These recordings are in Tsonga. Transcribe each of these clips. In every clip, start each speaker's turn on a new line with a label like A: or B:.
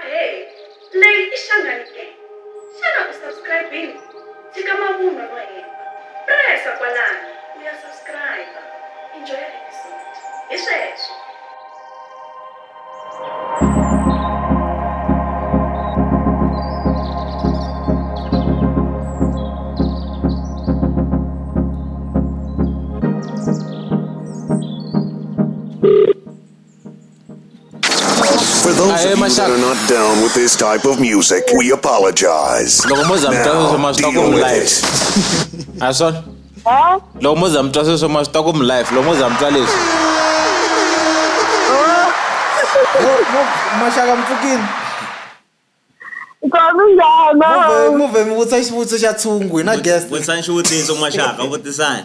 A: Ahee, leyi i Xangani ke? Xana u subscribe-ini? Tshika mavunwa no hemba. Press-a kwalano u ya subscribe-a. Enjoy-a episode. Hi sweswo. For those of you that are not down with this type of music, we apologize. Now, deal with it. Ason? Huh? Loko mo za mi twa sweswo ma swi ta ku mi life loko mo za mi twa leswi maxaka mi pfukile muvhe mi vutisa xivutiso xa tshungu hi na guest vutisani xivutiso maxaka vutisani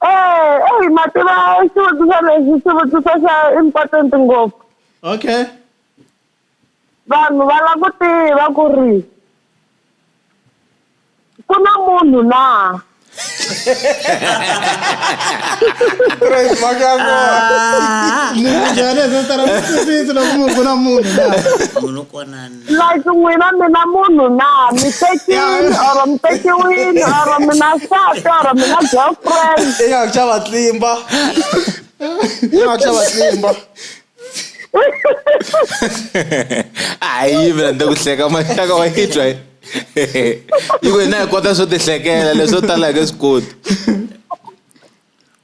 A: Eh, eyi mativa xivutiso lexi xivutiso xa important ngopfu okay vanhu va lava ku tiva ku ri ku na munhu na Praise mhaka ya kona. Munhu njhani a swi tala ku twisisa loko munhu ku na munhu na munhu kona like n'wina mi na munhu na mi tekile or mi tekiwile or mi na nsati or mi na girlfriend ya ku xava tlimba ya ku xava tlimba hayi mina ni ku hleka maxaka wa yi twa yi ku hina hi kota swo tihlekela leswo tala hi nge swi koti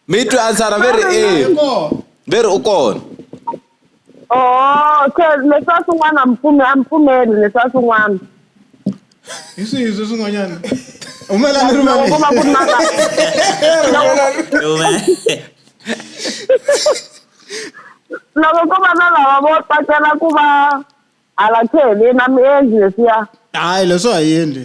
A: mi twe ansara ve ri e ve ri u kona oo se leswi a swin'wana a mi pfume a mi pfumeli leswi a swin'wana hi swihi swi swin'wanyana humelani ri loko ko va ku ri na la- loko ko va na lava vo tsakela ku va hala kheleni a mi endli leswiya hayi leswo ha yendli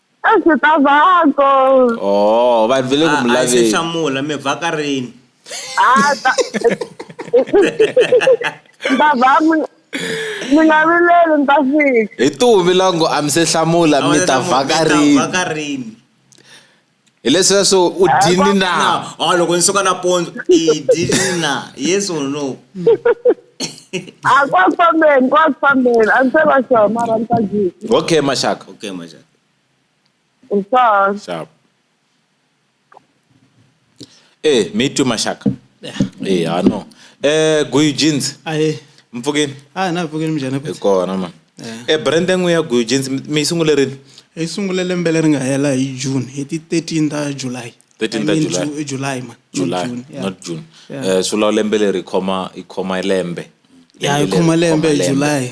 A: A ndzi ta vako. Oh, va vile ku mi laveni. A ndzi hlamula mi vaka rini? A ta. Ndza va mi mi nga vileli ndza fika. Hi tuvi lango a mi se hlamula mi ta vaka rini? hi lesweswo u dyini na a loko ni suka nampundzu i dyini na yes or no a kwa ku fambeni kwa ku fambeni a ni se va sure mara ni ta dyisa okay maxaka okay maxaka u sure sure Eh, me too mashaka. Eh, eh ah no. Eh, Guyu jeans. Ah, eh. Mpfukini. Ah, na mpfukini mjana kuti. Kona man. Eh, eh brand yangu ya Guyu jeans mi sungule rini? Hi sungule lembe leri nga hela hi June, hi ti 13 ta July. 13 ta July. July man. July, June, yeah. not June. Yeah. Eh, sula lembe leri khoma ikhoma lembe. Ya ikhoma lembe July.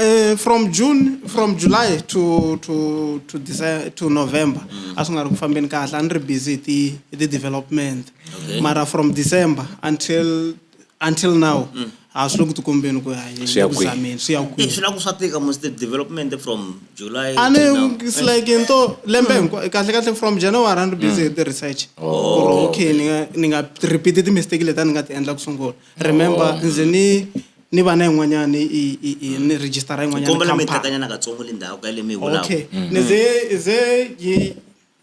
A: Uh, from june from july to to to december to november mm. a swi nga ri ku fambeni kahle a ni ri busy hi ti hi ti development okay. mara from december until until now mm. a swi le ku tikombeni ku yahiameni swi ya kwihi swi la ku swa tika mos the development from july a ni it's like into lembe mm. hinkwa kahle kahle from january a ni ri busy hi mm. ti research oh, ku ri okay ni nga ni nga repeat ti mistake leti a ni nga ti endla ku sungula remember oh. ndzi ni ni vana yin'wanyani ni register yin'wanyani mi tekanyana katsongo le ndhawu ka le mi vulaka okay mm. ni ze ze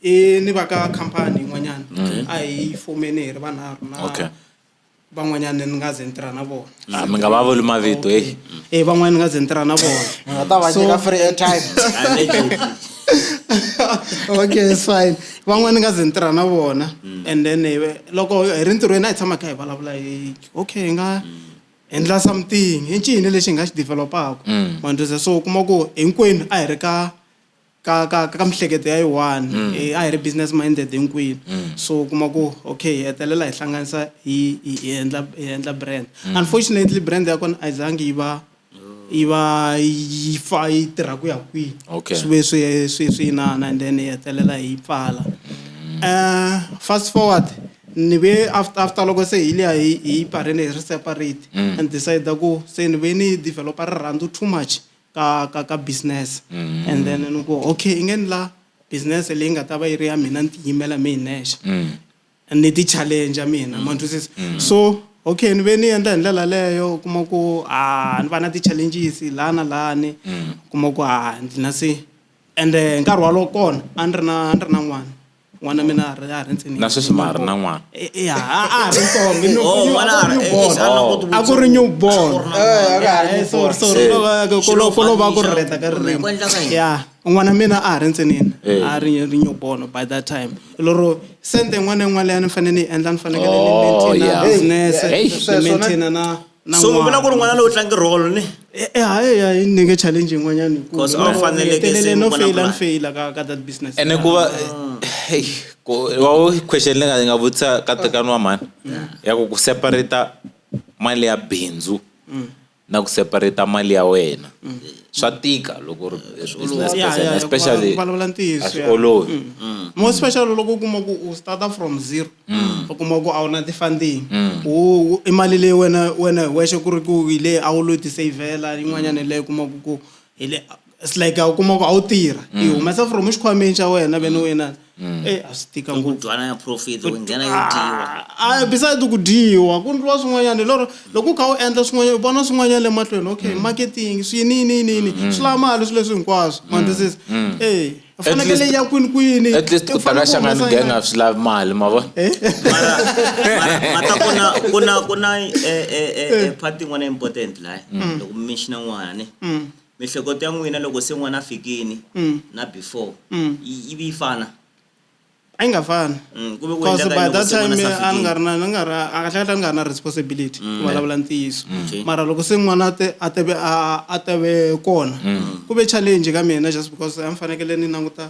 A: i ni va ka khampani yin'wanyana mm. a hi fomeni hi ri vanharhu na van'wanyana ni nga ze ni tirha na vona ah, mi nga va vuli mavito e e van'wana ni nga ze ni tirha na vona nga ta va nyika free airtime okay it's fine van'wana ni nga ze ni tirha na vona and then eh, loko hi ri ntirhweni a hi tshama kha hi vulavula hi okay hi nga endla something i ncini lexi hi nga xi developaka Mm. manduza so u kuma ku hinkwenu a hi ri ka ka ka ka mihleketo ya yiwani Mm. Eh, a hi ri business minded hinkwenu Mm. so u kuma ku okay hi hetelela hi hlanganisa hi hi hi endla hi endla brand Mm. unfortunately brand ya kona a yi zangi yi va yi va yi pfa yi tirha ku ya kwihi okay. swi ve swi swi swi inana and then yi hetelela hi pfala um fast forward ni ve after after loko se hi liya hi hi pfarile hi ri separate mm. and decide ku se ni ve ni developer rirhandzu too much ka ka ka business mm. and then ni ku okay i nge ni la business leyi nga ta va yi ri ya mina ni tiyimela mi hi nexe mm. ni ti challenge mina ma twisisa so okay ni ve ni endla hi ndlela leyo u kuma ku a ni va na ti challenges la na lani u kuma ku a ndzi na se ende hi nkarhi walowo kona a ni ri na a ni ri na n'wana n'wana mina a ri a ri ntsini Na sweswi ma ha ri na n'wana? E- e- a a ha ri ntsongo i new- Oh, new- n'wana a ri- new born. eh, a na ku ti- a ku ri new born Eh, a ka ha ri Eh, new sorry, born. sorry, Se, ko lo- ko lo- xilo ko lo va ku fambisa, rireta ka ririmi. ku endla ka yini? Yeah. N'wana mina a ha ri ntsinini a ri ri new born by that time lero sente yin'wana na yin'wana leyi a ni fanele ni yi endla ni fanekele ni Oh, maintainer yeah. business Hey, ni sweswo na- maintainer na na so mi vona ku ri n'wana lowu tlangi role ni Eh, eh, hayi hayi ni nge challenge yin'wanyani hikuva Because a wu faneleke ni hetelele se no mi vona faila ni plan. faila ka ka that business ene ku va hey, ku- wa wo question leyi nga- yi nga vutisa ka tekani wa mhani ya ku ku separata mali ya bindzu na ku separate mali ya wena swa tika loko u ri business Yeah, person yeah, especially ku vulavula ntiyiso, a swi yeah. olovi more special loko u kuma ku u starta from zero u kuma ku a wu na ti-funding U- u- i mali leyi wena wena hi wexe ku ri ku hi leyi a wu lo yi tisavhela yin'wanyana hi leyi kumaku ku hi le it's like a wu kuma ku a wu tirha i mm. humesa from exikhwameni xa wena vene u inana mm. e eh, a swi tika ngopfudwana profit u nghena yo dyiwa a ah, ah, beside ku dyiwa ku ndliwa swin'wanyana lero loko u kha u endla swin'wanyana u vona swin'wanyana le mahlweni okay mm. marketing swi yini yini yini yini swi lava mali swi leswi hinkwaswo mandisisi e fanekele ya kwini kwini at least ku taka xangani gang a swi lavi mali ma vona eh? mata kuna kuna kuna eh, eh, eh, eh, part yin'wana important laha loko mi menshina n'wana Mihleketo ya n'wina loko se n'wana a fikini na before yi yi vi yi fana? A yi nga fani ku ve ku cause endleka by yini loko that se n'wana time se a a ni nga ri fikini? na ni nga ri a kahle kahle a ni nga ri na responsibility ku vulavula ntiyiso Okay. mara loko se n'wana a te a teve a a teve kona ku ve challenge ka mina just because a ni fanekele ni languta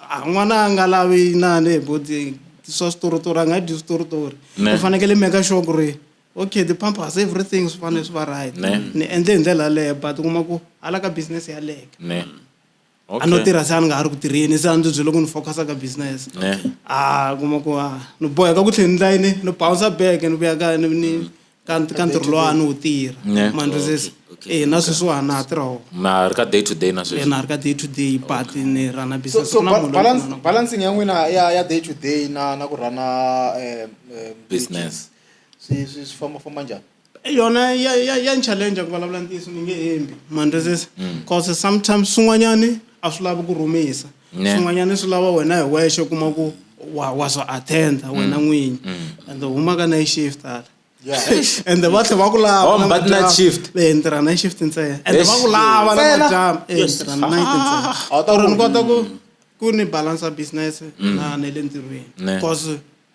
A: A n'wana a nga lavi inani hi boti swa switorotori a nga dyi switorotori u fanekele meka sure ku ri okay the pampers everything swi fanele swi va right ni endle hi ndlela yaleyo but u kuma ku hala ka business yaleke a no tirha se a ni nga ha ri ku tirheni se a ndzi byele ku ni focusa ka business a kuma ku a ni boheka ku tlhela ni layini ni bouncer back ni vuya kaya ni ni ka ka ntirho lowa a ni wu tirha Ne. ma ni twisisa Okay, okay, eh na okay. sweswi wa ha na ha tirha wona na ha ri ka day to day na eh sweswi na ha ri ka day to day but ni run a so, business so Ku na ba- munhu loyi balance, ni pfunaka. balancing ya n'wina ya, ya day to day na, na ku rhana eh, eh, business swi swi swi famba famba njhani Eh, yona ya ya ya ni challenge ku vulavula ntiyiso ni nge hembi ma ni twisisa cause sometimes swin'wanyani a swi lavi ku rhumisa swin'wanyana swi lava wena hi wexe u kuma ku wa wa swi attenda mm. wena n'winyi mm. and humaka na shift hala and va tlhe va ku lavaentirha na shift ntsena and va ku lava na majama entirha na night ntsena or ni kota ku ku ni balansa business mm. na na le ntirhweni because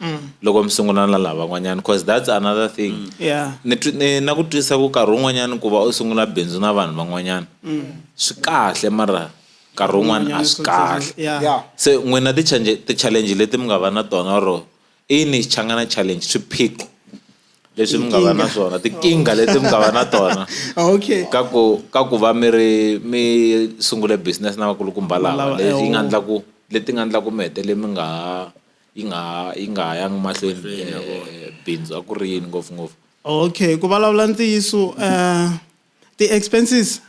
A: mm. loko mi sungula na lavan'wanyana because that's another thing mm. yeah. ni, ni, na ku twisisa ku karhi wun'wanyana ku va u sungula bindzu na vanhu van'wanyana mm. swi kahle mara nkarhi wun'wana a swi kahle se n'wina ti-challenge leti mi nga va na tona ro ini changana challenge swiphiqo leswi mi nga va na swona tikinga leti mi nga va na tona okay ka ku ka ku va mi ri mi sungule business na vakulukumba lava leti nga endlaku leti nga endlaku mi hetele mi nga ha yi nga ha yi nga ha yangi mahlweni eh, bindzu a ku ri yini ngopfungopfu okay ku vulavula ntiyiso um ti-expenses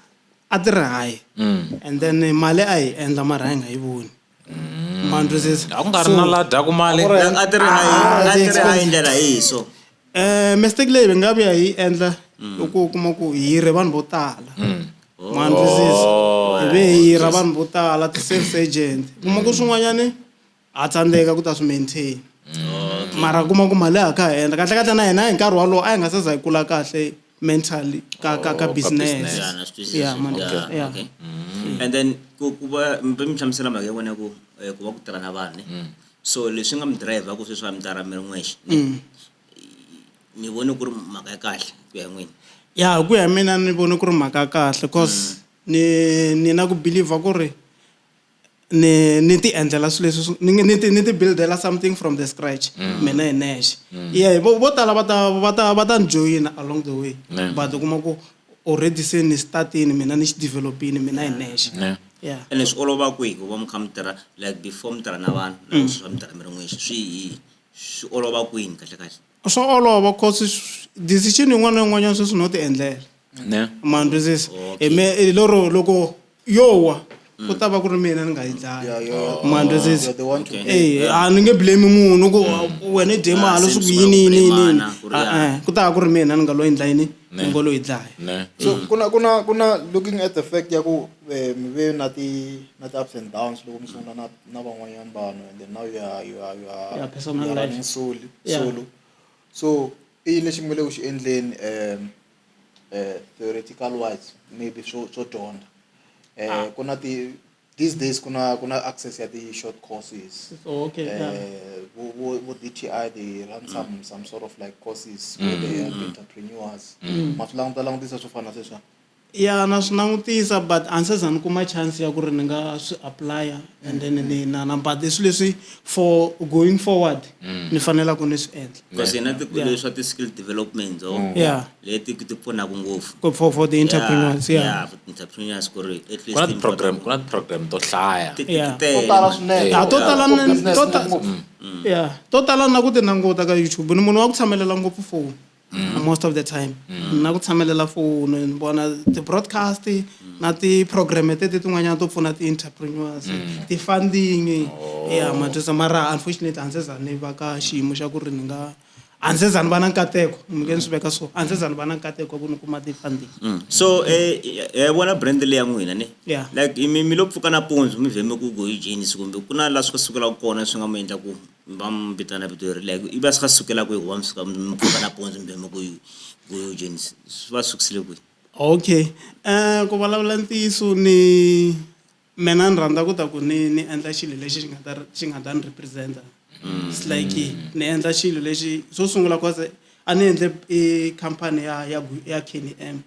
A: a ti ri high mm. and then mali a yi endla mara a yi nga yi voni mm. mandrosesa a ku nga ri na la dyaku mali a ti ri high a ti ri high ndlela yihi so um mistake leyi hi nga vuya hi yi endla mm. loko u kuma ku hi re vanhu vo tala mandrosesa oh. hi ve hi ra vanhu vo tala ti-sales agent kuma ku swin'wanyani a tsandzeka ku ta swi maintain mm. mara kuma ku mali a kha ha endla kahle kahle na hina hi nkarhi walowo a hi nga se za hi kula kahle mentally ka ka ka oh, business yeah man yeah mm. and then ku ku va mbe mi hlamusela mhaka ya vona ku eh, ku va ku tirha na vanhu ne mm. so leswi nga mi driver ku sweswi va mi tirha mi ri n'wexe ni vone ku ri mhaka ya kahle ku ya n'wini ya hi ku ya mina ni vone ku ri mhaka ya kahle cause ni ni na ku believer ku ri ni ni ti endlela swilo leswi ni ni ti ni ti build-ela something from the scratch mm. mina hi nexe mm. ye vo vo tala va ta va ta va ta ni joyina along the way but u kuma ku already se ni startini mina ni xi developini mina hi nexe yeah ene swi olova kwihi ku va mi kha mi tirha like before mi tirha na vanhu na mm. swa mi tirha mi ri n'wexe swi hi swi olova kwini kahle kahle swa olova cause decision yin'wana na yin'wanyana sweswi no ti endlela ne mandwisisa hi me lero loko yo wa ku ta va ku ri mina ni nga yi dlaya ma ndzi ndzi- You're the one to Okay. blame. Eh, a ni nge blame munhu ku wena i dye Ah, mali swi since ku yini u yini yini blame-ana, yini. ku ri Ah, ya. eh, ku ta va ku ri mina ni nga lo endla yini ni ngo lo yi dlaya ne So kuna kuna kuna looking at the fact ya ku eh, mi ve na ti na ti ups and downs loko mi sungula na na van'wanyana vanhu and then now you are you are you are Yeah, personal you are life. running solo Yeah. solo. So i yini lexi mi nga le ku xi endleni um uh, theoretical wise maybe swo swo dyondza um ah. ku na ti these days ku na ku na access ya ti-short courses oh, okay, uh, yeah. vo, vo, vo dti they run mm. some, some sort of like courses mm. where they help mm. entrepreneurs mm. ma swi languta langutisa swo fana sweswa ya na swi langutisa but a ni se za ni kuma chance ya ku ri ni nga swi applya and then ni na na but i swilo leswi for going forward mm. ni fanelaka ni swi endla because hi na tiko Yeah. leswa ti-skill development o Yeah. leti ti pfunaka ngopfu Go for, for the entrepreneurs, yeah. yeah, for entrepreneurs ku ri at least ku na ti- ti-program ku na ti-program to hlaya ti- ti- Yeah. tele. To tala swinene. Yeah, to tala For na- business to ta- ngopfu. Yeah. To tala na ku ti languta ka YouTube. Ni munhu wa ku tshamelela ngopfu phone. Most of the time. Na ku tshamelela phone, ni vona ti-broadcast, na ti-program tete tin'wanyana to pfuna ti-entrepreneurs mm. ti-funding oh. ya matwisa mara unfortunately a ndzi za ni va ka xiyimo xa ku ri ni nga a ndzi za ni va na nkateko mi nge ni swi veka so a ndzi za ni va na nkateko wa ku ni kuma ti-funding mm. so eh, eh, vona brand leyi ya n'wina ni like mi mi lo pfuka nampundzu mi vhe mi ku go ejenisi kumbe ku na laha swi ka sukelaka kona swi nga mi endla ku va mi vitana vito leri like i va swi ka sukelaka hi ku va mi suka mi pfuka nampundzu mi vhe mi ku go ejenisi swi va sukisile kwihi Okay ku vulavula ntiyiso ni mina ni rhandza ku ta ku ni ni endla xilo lexi xi nga ta xi nga ta ni represent-a it's like ni endla xilo lexi xo sungula cause a ni endle i khampani ya ya ya Kenny M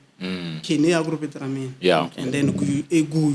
A: Kenny a ku ri vito ra mina and then Guyu i Guyu.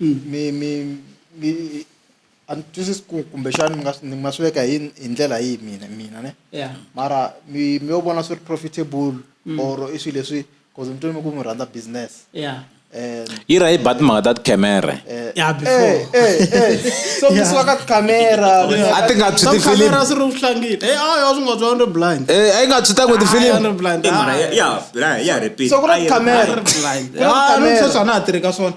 A: mi mi mi a ni twisisi ku kumbexana mi nga swi mi nga swi veka hi hi ndlela yihi mina mina ne ya mara mi mi yo vona swi ri profitable or i swilo leswi cause ni twe mi ku mi rhandza business ya and yi ra yi ba timhaka ta tikhamere ya Eh, before eh, eh. so mi suka ka tikhamera mi ya a ti nga tshwi tifilimi kamera swi ri vuhlangile e a ya swi nga twa ri blind Eh, a yi nga tshwi tan'we a tifilimi ri blind I mhaka ya- ya ya ya repeat so ku na Ayi, tikhamera ayi, ku na tikhamera sweswi a na ha tirhi ka swona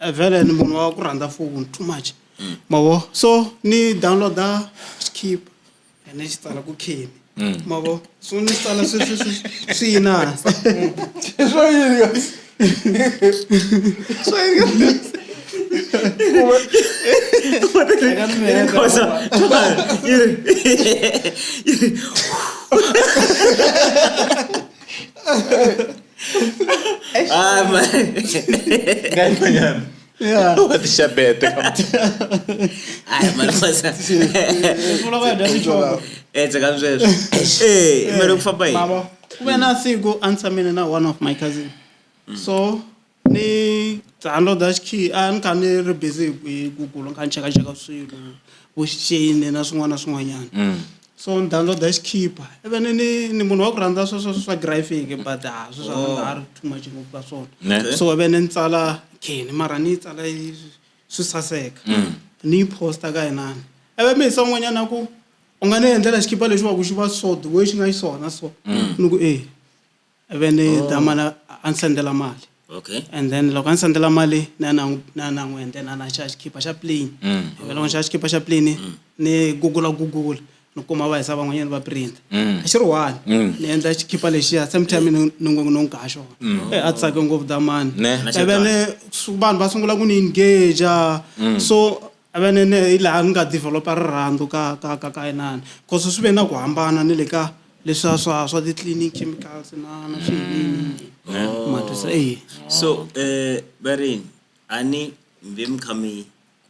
A: Eh, vhele ni munhu wa ku rhandza foni too much mm. mavo so ni downloada skip and ni xi tsala ku khini mm. mavo so ni tsala swi yini hansi swo yini swo yini Cosa? ah, man. Ganyan ba yan? Yeah. What is siya bete? Ay, man, mas... Mula ka, dami choco. Eh, tsaka msweswe. Eh, meron fa ba eh? Mama. Kuya na si go answer me na one of my cousin. Mm. So, ni tsando da shi a ni ka ni ri busy hi google ni kha ni chekacheka swilo vo xicini na swin'wana na swin'wanyana mm. so ni downloada xikhipa even ni ni munhu wa ku rhandza swa swa swa graphic but a swi swa oh. nga ri too much ngopfu ka swona so even ni tsala kheni mara ni yi tsala swi saseka mm. ni yi posta ka yinani eve mi hisa un'wanyana ku u nga ni endlela xikhipa lexi va ku xi va so the way xi nga xiswona so mm. ni ku e ivi ni oh. ta mana a ni sendela mali okay and then loko a ni sendela mali na na na na n'wi endela na xa xikipa xa plane mm. ivi loko ni xa xikipa xa plane mm. ni gugula gugula ni kuma va hisa van'wanyana va print mm. a xi ri one mm. ni endla xikipa lexiya same time ni ngo no nka xona mm. eh, a tsake ngopfu damani ivi ni vanhu va sungula ku ni engage so Havenene hi laha ni nga develop-a rirhandzu ka ka ka ka inani coz swi ve na ku hambana ni le ka leswiya swa swa ti cleaning chemicals na na swi yiniyini ma twisa eya. So varimi a ni mi ve mi kha mi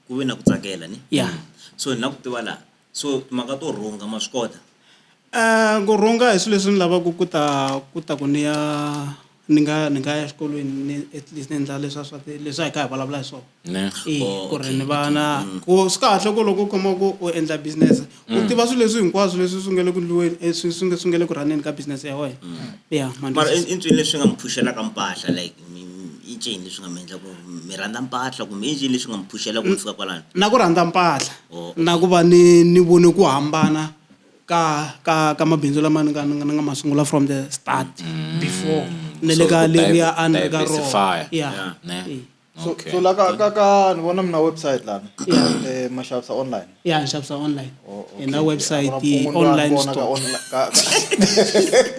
A: ku ve na ku tsakela ne ya so ni la ku tiva la so timhaka to rhunga ma swi kota? Ku rhunga hi swi leswi ni lavaku ku ta ku ta ku ni ya. Ni nga ni nga ya xikolweni ni at least ni endla leswa swa ti leswi a hi kha hi vulavula hi swona Ne, i oh, ku ri okay, ni va na ku swi kahle ku loko u khoma ku u endla business u tiva swilo leswi hinkwaswo leswi swi nga le ku ndliweni eh, swi swi nga swi nga le ku rhaneni ka business ya wena ya ma ni mara i twisisa. i ncini leswi nga mi phuxelaka mpahla like mi- mi- i ncini leswi nga mi endla ku mi rhandza mpahla kumbe i ncini leswi nga mi phuxela ku mi fika kwalano na ku rhandza mpahla Oh, okay. na ku va ni ni vone ku hambana ka ka ka mabindzu lama ni nga ni nga ma sungula from the start mm. before ni le ka leriya a ni ri ka rona ya so okay. so la ka ka ka ni vona mina website lana yeah. eh mashavisa online yeah nxavisa online oh, okay. na website yeah. online store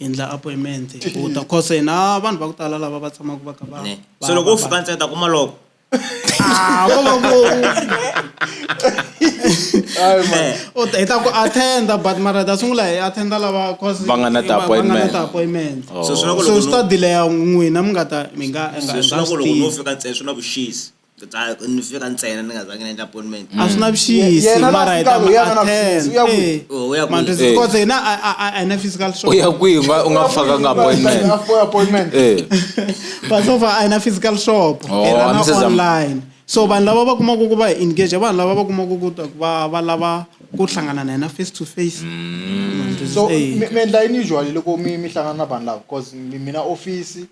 A: endla appointment u ta cause na vanhu va ku tala lava va tshamaka va kha va Ne. va- so loko u va- fika ntsena ta kuma loko Ah, ko va ku Hayi man. Eh, u ta- hi ta ku attenda but mara hi ta sungula hi attenda lava cause Va nga na va- va nga na ti-appointment. ti-appointment. Oh. so swi na ku so loko swi ta no- delaya n'wina mi nga ta mi nga mi nga- so mi swi nga na ku loko no swi tiva. fika ntsena swi na vuxisi ni fika ntsena ni nga zange ni endla appointment a swi na vuxisi Yena la mara hi ta fikaka, mu yena la attend. vuxisi, u ya kwihi? Eh, Oh, u ya kwihi? mandlhozi, Eh. because hina a- a- a- a hi na physical show u ya kwihi u nga- u nga fakanga appointment appointment Eh. but so far a hi na physical shop Oh, hi rana Mrs. Am- online so vanhu lava va kumaka ku va hi engage vanhu lava va kumaka ku ta- va va lava ku hlangana na hina face to face Mm. Mandlhozi, so eh. mi mi endla yini usually loko mi mi hlangana na vanhu lava bcause mina office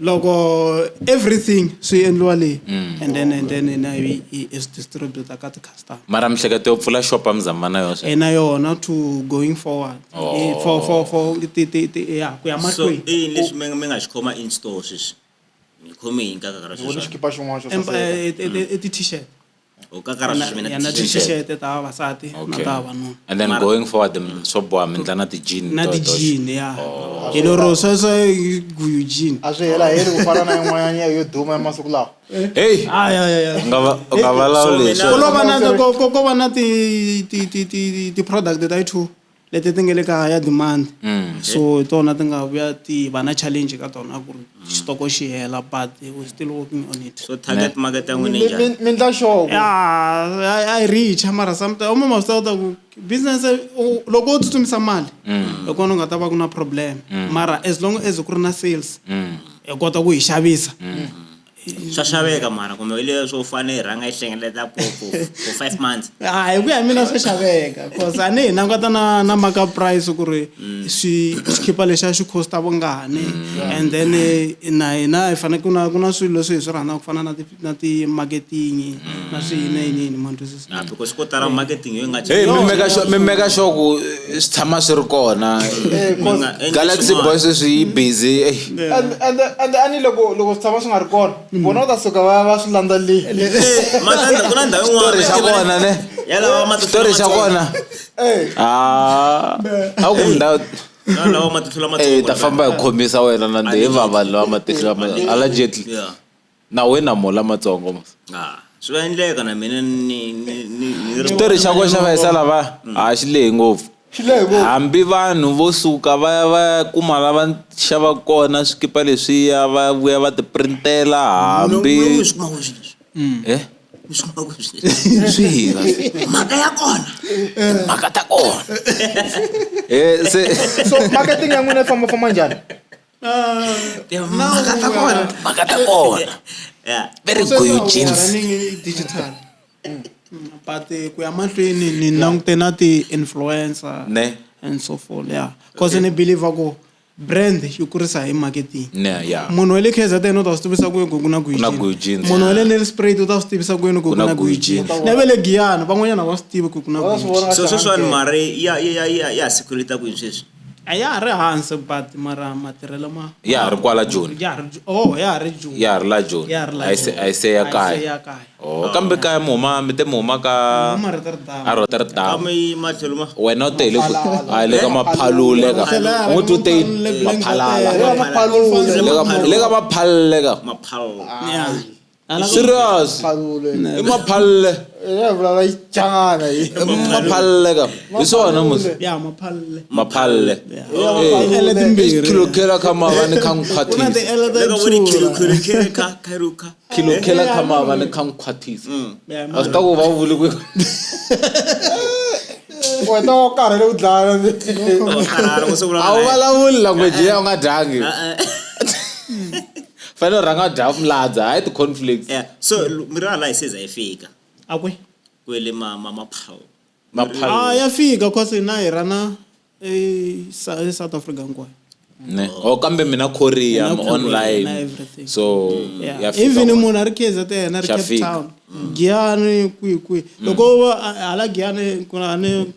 A: loko everything swi endliwa leyi mm. and then and then na yi is distributor ka ti-customer mara mihleketo yo pfula shop amizama na yona ena yona to going forward oh. Eh, for for for ti ti ti ya ku ya mahlweni so i leswi mi mi nga xi khoma in store sweswi mi khome hi nkarhi ka sweswi xikipa xin'wana xo saseka eh, eh, mm. i ti-t-shirt u ka karhi swi na na t-shirt ta vavasati na ta vavanuna and then going forward mm, swo boha mi ndla na ti-jean na ti-jean ya oh. hi lero sweswo guyu jean a swi hela heli ku fana na yin'wanyana yo duma ya masiku lawa heyi u nga valawulexo ko va na ti-product ta yi two leti ti nga le ka higher demand mm. so hi tona ti nga vuya ti va na challenge ka tona ku ri xitoko xi hela but we still working on it so target market ya n'wina njhani mi ndla xoko a yi reach mara sometimes uma ma swi kota ku business loko u tsutsumisa mali mm. hi kona u nga ta va ku na problem mm. mara as long as ku ri na sales mm. hi kota ku yi xavisa swa xaveka mara kumbe hi leswo u fanele hi rhanga yi hlengeleta for for five months a ah, hi ku ya mina swa xaveka cause a ni hi languta na na maka price ku ri mm. swi xikhipa lexiya xi costa vungani mm. and then eh, na hina hi fanele ku na ku na swilo leswi hi swi rhandzaka ku fana na ti na ti-marketing na mm. swihi na yiniyini ma ni twisisa Ah, because ko tala marketing yo yi nga Hey, cinca. mi meka sure- mi meka sure ku eh, swi tshama swi ri kona Eh, Mi nga endli galaxy swin'wana. boy sweswi yi busy eh. and and and ani loko loko swi tshama swi nga ri kona vona va ta suka va va swi landza le Eh, Matlanda, ku na ndhawu yin'wana. xitori xa kona ne Ya lawa matihlo xitori xa lamatsongo. kona Eh, Ah, a ku ndhawu Ya lawa matihlo lamatsongo. eh ta famba hi khomisa wena na ndhe hi vava lawa matihlo lama ala jetli Yeah. na wena mo lamatsongo mos Ah, swi nga endleka na mina ni ni ni ni ri xitori xa ko xa vayisa lava a xi lehi ngopfu Xi lehe ngopfu. hambi vanhu vo suka va ya va ya kuma la va xava kona swikipa leswiya va ya vuya va ti printela hambi Munhu un'we swi kuma kwihi swilo leswi? Eh? Swi kuma kwihi swilo leswi? swihi va swi mhaka ya kona mhaka ta kona Eh, se so marketing ya n'wina yi fambafamba njhani digital mm. Mm, but eh, ku ya mahlweni ni langute na ti-influencer ne and so forth ya cause ni believer ku brand yi kurisa hi marketing munhu wa le kzn u ta swi tivisa kwini ku ku na guijini munhu wa le nelsprat u ta swi tivisa kwini ku ku na guijini na ve le giyani van'wanyana va swi tivi ku ku na guijini so sweswiwani mari ya ya ya ya sikhulita kwini sweswi a ya ha ri hansi but mara matirhelo ma ya ha ri kwala joni ya ha ri oh ya ha ri joni ya ha ri la joni ya ha ri la a se a se ya kaya ya kaya oh kambe kaya mi huma mi te mi huma ka huma ri ri damu a ro ta ri damu kama yi matlhelo ma wena u te le ku a le ka maphalule ka u tu te maphalala le ka maphalule ka maphalale ka maphalale serious i maphalle maphalle ka hi swona maphalle kilokela kha mava ni kha nkhwathizakilokela kha mava ni kha nkhwathiza mm. a swi ta ku va u vuli ku wena wo karhele u dlaya a wu vulavuli language ya u nga dyangi eh, eh. fanele u rhanga u dya mladza hayi ti-conflicts yeah so miri wa laha seza yi fika a kwi kwele ma ma maphawu maphawu ah ya fika cause na hi rana e South Africa hinkwayo ne oh kambe mina Korea I'm online so yeah. even munhu a ri KZN a ri Cape Town Giyani kwi kwi loko hala Giyani ku na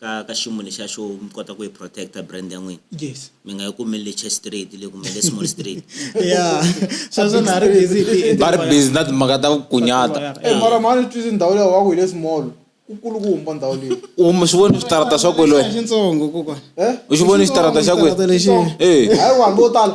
A: ka ka xiyimo lexiya xo mi kota ku yi protect-a brand ya n'wina yes mi nga yi kumeli le church street le kumbe le small street ya sweswo na ha ri busy hi ti- va ri busy na timhaka ta ku kunyata Eh, mara mhani twisi ndhawu leyi waku hi le small ku kulukumba ndhawu leyi u mi swi voni switarata swa kwelweni xitsongo kokwana eh u xi voni xitarata xa Xitarata kwini lexi Eh. hayi vanhu vo tala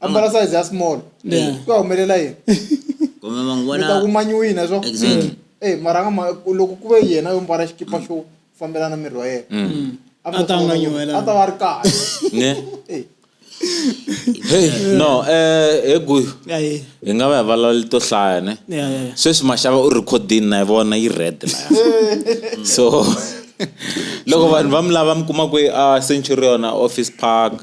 A: ambala size ya small Yeah. ku ya humelela yini kumbe mi ta mangwana kumanyiwina swo Exactly. Eh, mara a nga ma- loko ku ve yena yo mbala xikipa xo fambelana miri wa yena a A ta nga nyuhelanga. a ta va ri kahle ne Eh, hey no eh he guyu Ayi. hi nga va hi vulavuli to hlaya ne Yeah, yeah, yeah. sweswi maxava u rhikhodini na yi vona yi red laya so loko vanhu va mi lava mi kuma kwihi a centurion a office park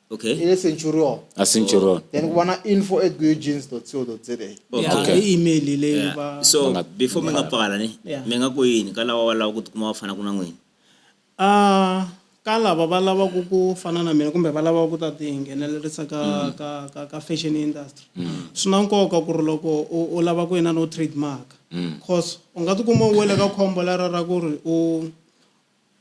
A: Okay. Ile Centurion. A Centurion. Then kubona info at goejeans.co.za. Yeah, okay. email ile yeah. ba. So Manga, before menga pala ni, yeah. menga ku yini ka lava va lava ku tikuma va fana ku na n'wina? Ah, ka lava va lava ku ku fana na mina kumbe va lava ku ta ti nghenelerisa ka mm. ka ka ka fashion industry. Mm. Swi na nkoka ku ri loko u lava ku yena no trademark. Mm. Cause u nga tikuma u wele ka khombo lera ra ku ri u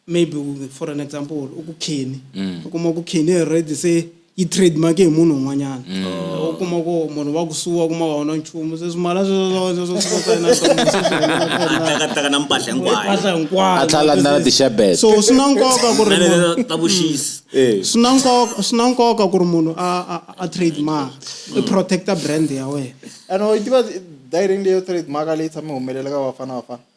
A: maybe for an example u ku khini mm. u kuma ku khini already se yi trademark hi munhu un'wanyana mm. eh, u kuma ku munhu wa kusuwa kuma wa wona nchumu se swimala sweswotakataka na mpahla hinkwayoatlhalandana tixabet so swi na nkoka ku ri ta vuxisi mm. eh. swi na nkoka swi na nkoka ku ri munhu a a trademark i protecta brand ya wena and i tiva direct leyo trademark leyi tshame humelela ka vafana vafana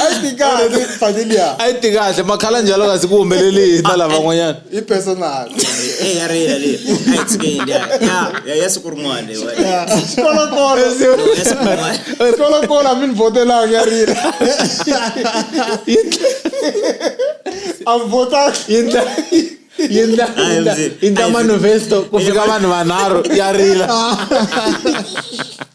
A: a yi ti kahle family ya a yi ti kahle makhala njalo kasi ku humelele yini na lavan'wanyana i personal eh ya rila le a yi tsikendi ya ya ya siku rin'wana le kola kola kola kola mi ni votelanga ya rila a votaka yindla yindla yindla manifesto ku fika vanhu vanharhu ya rila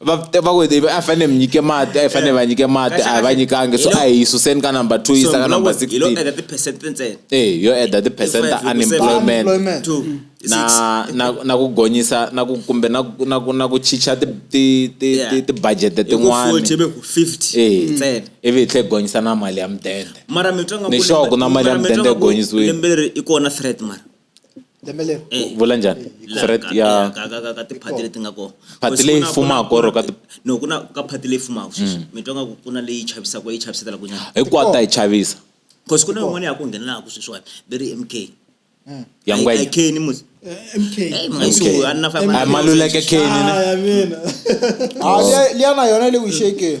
A: va va ku they- a fanele mi nyike mati a fanele va nyike mati a va nyikangi so a hi suseni ka number two yisa ka number hi lo 16 enda tiphesenti ntsena Eh, yo add the percent Five, ta you say unemployment Unemployment. two six na na na ku gonyisa na ku kumbe na ku- na ku na ku chicha ti ti ti Yeah. ti- ti budget Hi ku 40 tin'wani be ku 50 Eh. ntsena ivi hi tlhe hi gonyisa na mali ya mudende mara mitwa nga Ni sure ku na mali ya mudende yi gonyisiwile. lembe leri i kona threat mara Eh. vula njhani threat ya ka tiphati leti nga kona phati leyi fumaka or ka no ku na ka phati leyi fumaka sweswi mm. mi twa nga ku ku na leyi chavisaka yi chavisela ku nyana hinkwayo ta yi chavisa because ku na yin'wana ya ku nghenelaka sweswiwani va ri mk mm. ya ngwenya keni musi maluleke keni liya na yona le wishekeni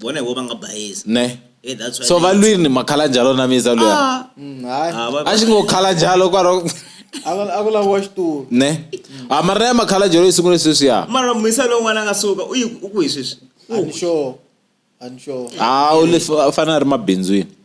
A: vona hi vo va nga bayisa ne Hey, that's why so they- valwini makhala njalo na miza luya Ah, Mm, hayi ah, va- a xi ngo khala njalo kwaro a ku- a ku laviwa xitulu ne a mara na ya makhala njalo yi sungule sweswiya mara mhisa lowun'wana a nga suka u yi- u ku hi sweswi U ku- anisure anisure a u le fa- u fanele a ri mabindzwini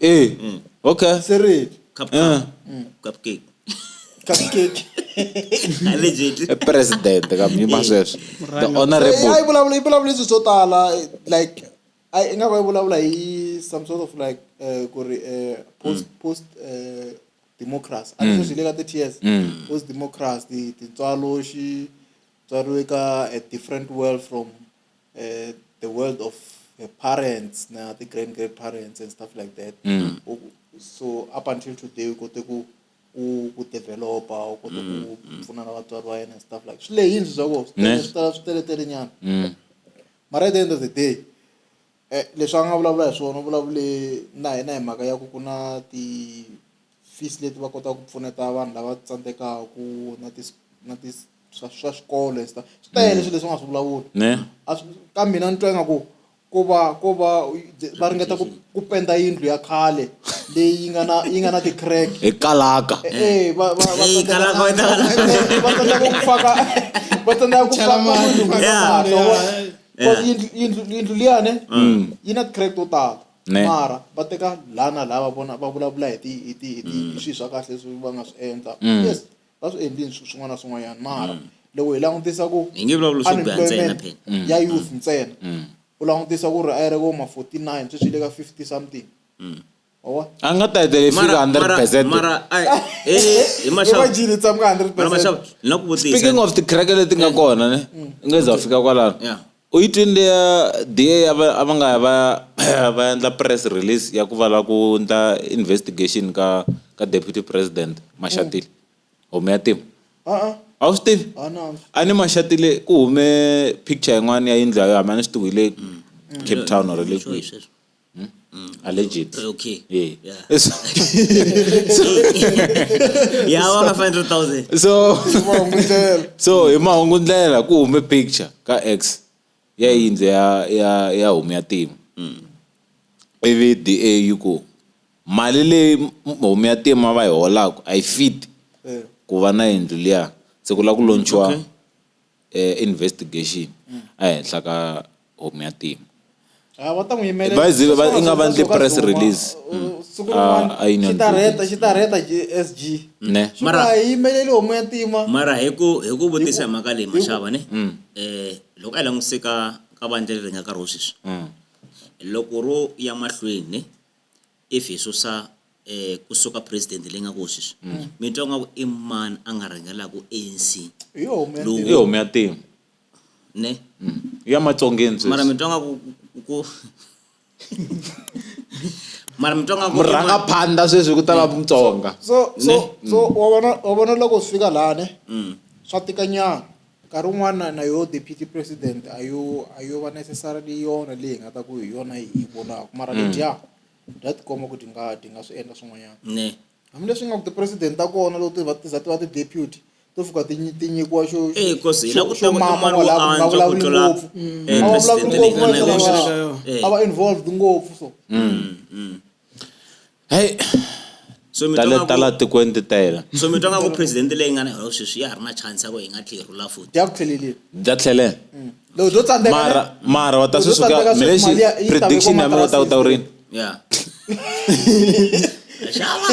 A: Eh, mm. okay. Seriously. Cup, uh. mm. Cupcake. Cupcake. legit eh, president ka mi ma sweswo the honorable eh, ayi vulavula yi vulavula leswi swo tala like ayi nga va yi vulavula hi some sort of like uh, ku ri uh, post mm. post uh, democracy a leswi swi le ka the tears mm. post democracy tintswalo xi tswariwe ka a different world from uh, the world of her parents na the grand grandparents and stuff like that mm. so up until today ukote ku ku developa ukote ku mm, mm. pfuna na vatswari va yena and stuff like swi lehini swa ko swi tala swi teleterenyana mm. mara at the end of the day eh, leswi a nga vulavula hi swona u vulavule na hina hi mhaka ya ku ku na ti fees leti va kotaka ku pfuneta vanhu lava tsandzekaka ku na ti na ti swa swa xikolo and stuff swi tele swilo leswi nga swi vulavula ne a swi ka mina ni twa ingaku ko va ko va va ringeta ku ku penda yindlu ya khale leyi yi nga na yi nga na ti-crack hi kalaka Eh, va va va Hey, tsandzeka- kalaka, wena. Eh, va tsandzeka ku faka va tsandzeka ku Chela faka mati, munhu ku faka Yeah. mati, wa vona? Yeah. Cause yindlu- yindlu yindlu liyane yi na ti-crack to tala mara va teka laha na laha va vona va vulavula hi ti hi ti hi ti hi swilo swa kahle leswi va nga swi endla yes va swi endlile swilo swin'wana na swin'wanyana mara loko hi langutisa ku Hi nge vulavuli swo biha ntsena unemployment phela. ya youth ntsena u langutisa ku ri a yi ri vo ma 49 sweswi yi le ka 50 something wa vona a nga ta hetelela yi fika 100 percent mara ai, eh, hi maxavu imagine yi tshama ka 100 mara percent maxavu ni na ku vutisa speaking of tikereke leti nga kona ne i nge za fika kwalano Yeah. U yi twile DA ya va a va nga ya va ya va ya endla press release ya ku va lava ku endla investigation ka ka deputy president Mashatile homu ya tima a-a a wu swi tivi a na a ni Mashatile ku hume picture yin'wana ya yindlu ya yona hambi a ni swi tivi hi le Cape Town or le kwihi. Hmm? Mm. Alleged. Uh, okay. Yeah. Yeah. So, yeah, so, 500,000. So, so hi mahungu ndlela ku hume picture ka X ya yindze ya ya ya hume ya timu. Mm. Ivi DA yi ku mali leyi hume ya timu va yi holaka a yi fit eh. ku va na yindlu liya se ku la ku launchiwa investigation ehenhla ka home ya team ah, va ta n'wi yimelela i nga va ndli press release siku rin'wana ah, xi ta rheta xi ta rheta SG ne mara a yimeleli homu ya ntima mara hi ku hi ku vutisa hi mhaka leyi maxava ne mm. eh loko a languseka ka vandla leri nga nkarhi wo sweswi mm. loko ro ya mahlweni ne if hi susa eh kusuka president leyi nga kona sweswi mm. mi twa nga ku i mani a nga rhangelaka anc i homu ya timu ne mm. ya matsongeni sweswi mara mi twa nga ku ku mara mi twa nga ku murhanga phanda sweswi ku ta va mutsonga so so so wa vona wa vona loko swi fika laha ne mm. swa tika nyana Nkarhi wun'wana na yo deputy president a yo a yo va necessarily yona leyi nga ta ku hi yona yi vonaka mara mm. ledya bya tikomba ku ti nga ti nga swi endla swin'wanyana hambileswi nga ku ti-president ta kona loko ti va ti za ti va ti-deputy to fika ti ti nyikiwa xo eh, xo mama wala mm. a va vulavuli ngopfu a va vulavuli ngopfu a va involved ngopfu so mm, Heyi so mi ta le ta la tikweni ti tele so mi twa nga ku president leyi nga na holo sweswi ya ha ri na chance ya ku hi nga tlhe hi rhula futhi ya ku tlhelelile bya tlhele mm. loko byo tsandzeka mara mara wa ta swi suka mi lexi prediction ya mina u ta u ta u rini ya xava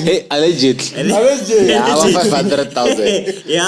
A: hey allegedly allegedly ya 500000 ya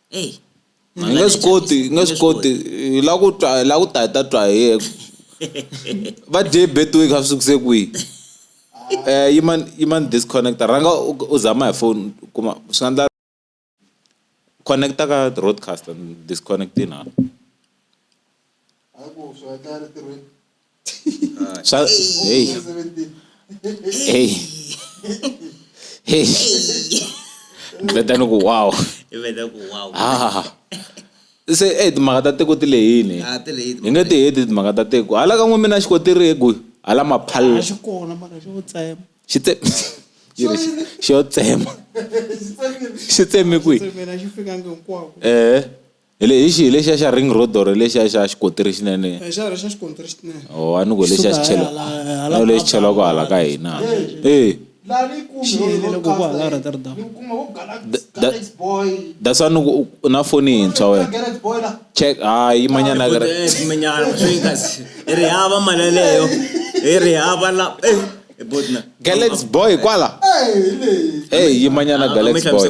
A: eyi Hi nge swi koti hi nge swi koti hi la ku twa hi la ku ta hi ta twa hi yeke va dye betway kha swi sukise kwihi um yimani yimani disconnector rhanga u u zama hi phone u kuma swi nga endla connect-a ka roadcaster ni disconnect-ini hala. Swa hey hey hey ni veta ni ku wow i veta ku wow ha se eh timhaka ta tiko ti lehini Ah, ti lehini hi nge ti heti timhaka ta tiko hala ka n'we mina xiko ti ri egwi hala maphalla xi kona mara xo tsema xi tse yi ri xi- xi yo tsema xi tsemi kwihi mina xi fikangi hinkwako eh hi le hi xihi lexiya xa ring road or lexiya xa xikontiri xinene eh, xa xa xikontiri xinene o oh, a ni ku lexiya xi chela na lexi chela ku hala ka hina eh that's why niku na foni yintshwa wena check hayi manyana ka i ri hava mali yaleyo i ri hava la eh, galax boy kwala eyi yimanyana galax boy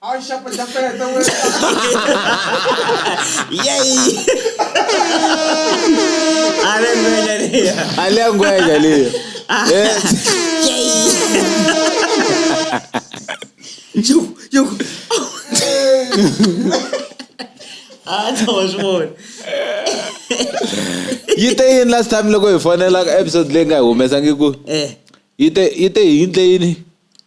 A: Ai, chapa de aperta, ué. E aí? A language ali. A language ali. Ah. É. E aí? Jogo, jogo. Ah, não, amor. Yi te yin last time loko hi fonela episode leyi nga humesa ngi ku. Eh. Yi te yi te hi yindle yini?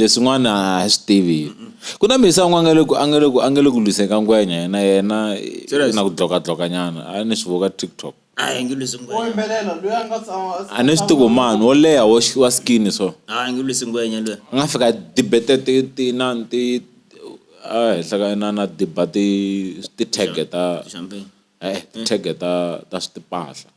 A: leswin'wana a hi swi tivi ku na mhisa un'we a nga le ku a nga le ku a nga le ku lwiseni ka ngwenya yena yena na ku dlokadloka nyana a ni swi vona ka TikTok a hi nge lwisi ngwenya wo yimbelela loyi a nga tshama a ni swi tivi mani wo leha wo wa skin so a hi nge lwisi ngwenya loyi a nga fika debate ti ti na ti a henhla ka na na debate ti-tag ta ti-tag ta ta swa timpahla.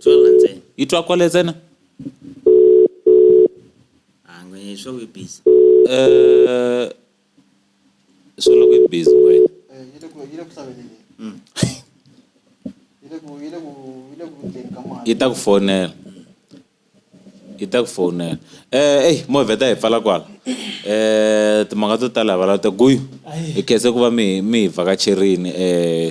A: tswelela ntsena yi twa kwale ntsena ange ah, swo we busy eh swo loko yi busy wena eh yile ku yile ku hlaveleni mm yile ku yile ku yile ku ndleni ka mali yi ta ku fonela yi ta ku fonela eh ey movhe ta hi pfala kwala eh timhaka to tala hi valata guyu hi khese ku va mi mi hi vhakacherini eh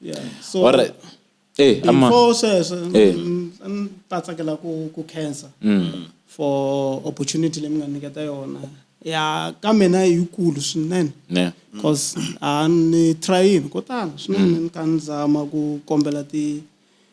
A: yeah so all right eh ama before sweswo Eh. mm, a ni ta tsakela ku ku khensa Mm. for opportunity leyi mi nga nyiketa yona ya ka mina i yikulu swinene ne cause a ni trayini ko tala swinene ni ka ni zama ku kombela ti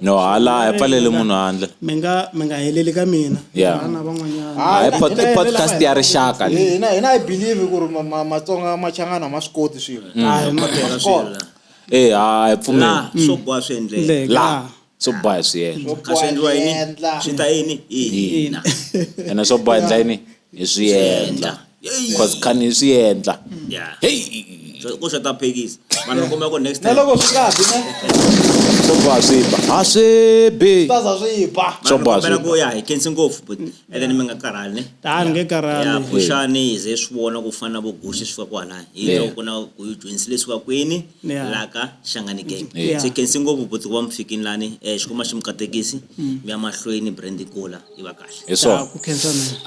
A: no hala a hi pfaleli munhu handle mi nga mi nga heleli ka mina Yeah. vana van'wanyana Ah, hi pod- i podcast ya rixaka leyi. hina hina i believe ku ri ma- ma- matsonga machangana ma swi koti swilo Mm. Ah, hi ma tirha swilo la. Eh, a hi pfumeli la swo boha swi endleka Le, la la. swo boha hi swi yena a swi endliwa yini swi ta yini hina ene swo boha hi ndla yini hi swi endla cause khani hi swi endla heyi ku swi ta phekisa vanhu va kuma ku next time loko swi nga bi swo boha swi ba ha swi bi swi za swi ba swo boha swi ku ya hi kensi ngopfu but and then mi nga karhali ta ni nge karhali ya phushani hi ze swi vona ku fana vo gushi swi va ku hala hi loko ku na ku yi joinsi leswi va kwini laka xangani gang se kensi ngopfu but ku va mi fikini lani eh xikwama xi mi katekisi mm. mi ya mahlweni brand kula yi va kahle hi swona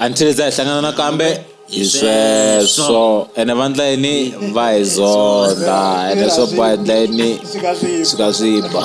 A: until za hi hlangana nakambe hi sweswo ene vandla yini va hi zonda ene swo ba ndla yini swi ka swi ba